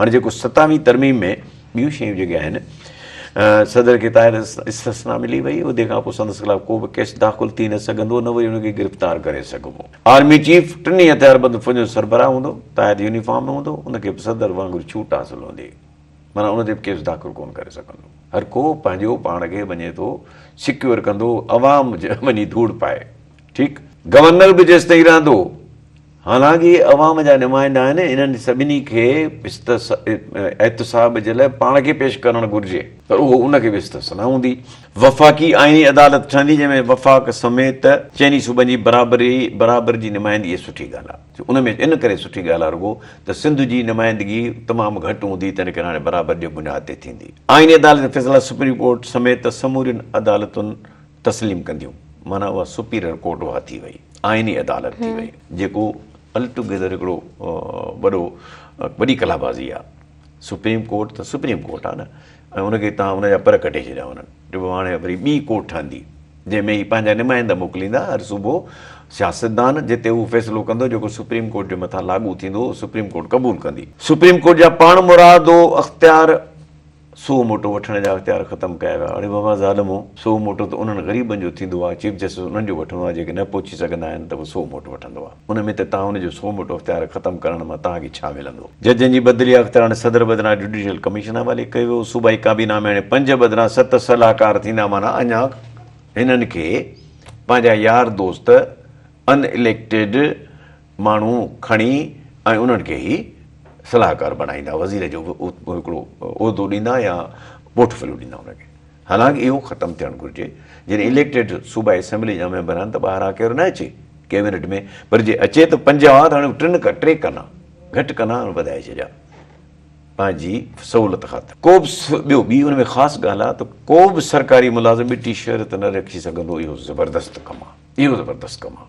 هاڻي جيڪو ستاويهين ترميم ۾ ٻيون شيون جيڪي آهن صدر کي طاهر استثنا ملي وئي ادي کان پوء سندس خلاف ڪو به ڪيس داخل ٿي نه سگهندو نه وري ان کي گرفتار ڪري سگهبو آرمي چيف ٽنهي هٿياربند فوجن جو سربراهه هوندو طاهر يونيفارم ۾ هوندو ان کي به صدر وانگر ڇوٽ حاصل هوندي مانا ان تي به ڪيس داخل ڪون ڪري سگهندو هر ڪو پنهنجو پاڻ کي وڃي ٿو سڪيور ڪندو عوام وڃي ڌوڙ پائي ٺيڪ گورنر به جيستائين رهندو حالانڪ اهي عوام جا نمائندا آهن، انهن سڀني کي احتساب جي لاء پاڻ کي پيش ڪرڻ گهرجي ته اهو ان کي به استثنا هوندي. وفاقي آئيني عدالت ٺهندي جنهن ۾ وفاق سميت چئني صوبن جي برابري برابر جي نمائندگي سٺي ڳالهه آهي جو ان ۾ ان ڪري سٺي ڳالهه آهي رڳو ته سنڌ جي نمائندگي تمام گهٽ هوندي تنهن ڪري هاڻي برابر جي بنياد تي ٿيندي. آئيني عدالت جا فيصلا سپريم ڪورٽ سميت سمورين عدالتون تسليم ڪنديون معنيٰ اها سپيريئر ڪورٽ اها ٿي وئي. آئيني عدالت ٿي وئي جيڪو الٽوگيدر هڪڙو وڏو وڏي ڪلابازي آ سپريم ڪورٽ ته سپريم ڪورٽ آ نه ۽ ان کي تان ان جا پر ڪٽي ڇڏيا هونن جو هاڻي وري ٻي ڪورٽ ٺهندي جنهن ۾ هي پنهنجا نمائندا موڪليندا هر صوبو سياستدان جتي هو فيصلو ڪندو جيڪو سپريم ڪورٽ جي مٿان لاڳو ٿيندو سپريم ڪورٽ قبول ڪندي سپريم ڪورٽ جا پاڻ مرادو اختيار سو موٽو وٺڻ جا اختيار ختم ڪيا ويا. اڙي بابا ظالمو! سو موٽو ته انهن غريبن جو ٿيندو آهي، چيف جسٽس انهن جو وٺندو آهي جيڪي نه پهچي سگهندا آهن ته به سو موٽو وٺندو آهي. ان ۾ ته توهان جو سو موٽو اختيار ختم ڪرڻ مان توهان کي ڇا ملندو؟ ججن جي بدلي جا اختيار هاڻي صدر بدران جڊيشل ڪميشن حوالي ڪيو ويو. صوبائي ڪابينا ۾ هاڻي پنج بدران ست صلاحڪار ٿيندا معنيٰ اڃا هنن کي پنهنجا يار دوست ان اليڪٽيڊ ماڻهو کڻي ۽ انهن کي ئي صلاحڪار بڻائيندا، وزير جو هڪڙو عهدو ڏيندا يا پورٽ فليو ڏيندا انهن کي. حالانڪ اهو ختم ٿيڻ گهرجي. جڏهن اليڪٽيڊ صوبائي اسيمبلي جا ميمبر آهن ته ٻاهران ڪير نه اچي ڪيبينيٽ ۾ پر جي اچي ته پنج هئا ته هاڻي ٽن ڪا ٽي ڪنا گهٽ ڪنا وڌائي ڇڏيا پنهنجي سهولت خاطر. ڪو به ٻيو ٻي ان ۾ خاص ڳالهه آهي ته ڪو به سرڪاري ملازم ٻٽي شهريت نه رکي سگهندو اهو زبردست ڪم آهي اهو زبردست ڪم آهي.